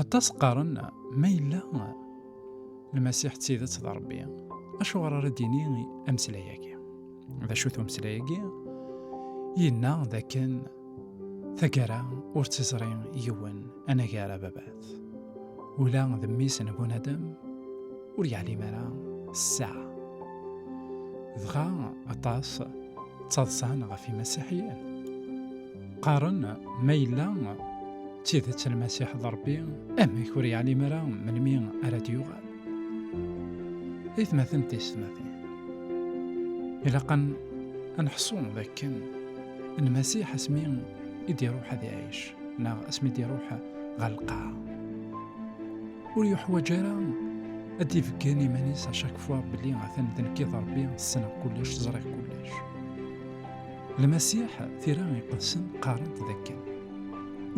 Aṭas qqaren ma yella Lmasiḥ d tidet d Ṛebbi, acuɣer ara d-yini ameslay-agi? D acu-t umeslay-agi? Yenna d akken tagara ur tt-iẓri yiwen anagar ababat. Ula d mmi-s n bunadem ur yeɛlim ara ssaɛa. Dɣa aṭas ttaḍsan ɣef yimasiḥiyen. Qqaren ma yella d tidet Lmasiḥ d Ṛebbi, amek ur yeɛlim ara melmi ara d-yuɣal? I tmatin tiyesmatin, ilaq ad nḥṣu d akken Lmasiḥ asmi i d-iruḥ ad iɛic neɣ asmi d-iruḥ ɣer lqaɛa ur yuḥwaǧ ara ad d-ibeggen iman-is acakfwa belli atan d nekk i d Ṛebbi, ssneɣ kullec, ẓriɣ kullec. Lmasiḥ tira iqedsen qqarent d akken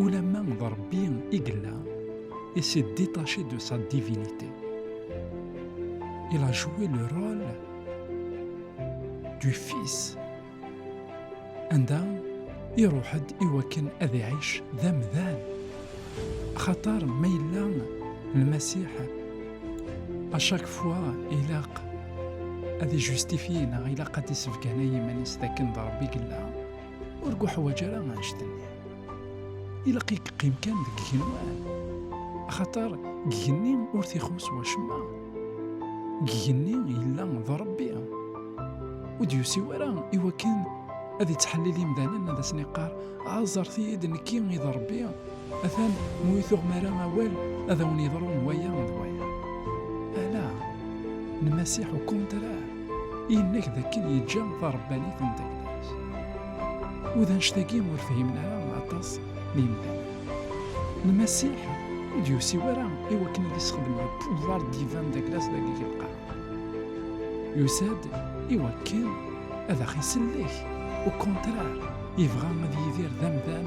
ulamma d Rebbi i yella et s'est détaché de sa divinité. Il a joué le rôle du fils anda iruḥ-d iwakken ad iɛic d amdan xaṭer ma yella lmasiḥ À chaque fois, il a à justifier, il a à dissevganer iman-is dakken d Rebbi yella, ur guḥwaǧ ara annect-nni. Ilaq i yeqqim kan deg igenwan, axaṭer deg igenni ur t-ixuṣṣ wacemma. Deg igenni yella d Rebbi. Ur d-yusi ara i wakken ad yettḥellil imdanen ad asen-iqqar aẓret-iyi-d nekki i d Rebbi Atan mu i tuɣem ara awal ad awen yeḍru waya d waya. Ala, Lmasiḥ u kontra, yenna-k d akken yeǧǧa tarebbanit n tagdart. U d annect-agi ur fhimen ara aṭas n yimdanen. Lmasiḥ ur d-yusi wara i wakken ad isexdem le pouvoir divin d aglas dagi deg lqaɛa. Yusa-d i wakken ad aɣ-isellek, u kontra, yebɣa ad yidir d amdan,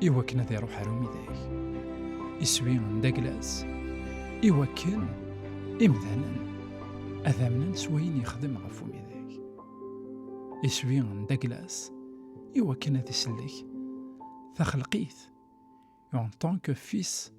i wakken ad iruḥ ar umidag. Iswi n Daglas, i wakken imdanen ad amnen s wayen yexdem ɣef umidag. Iswi n Daglas, i wakken ad isellek taxelqit en tant que fils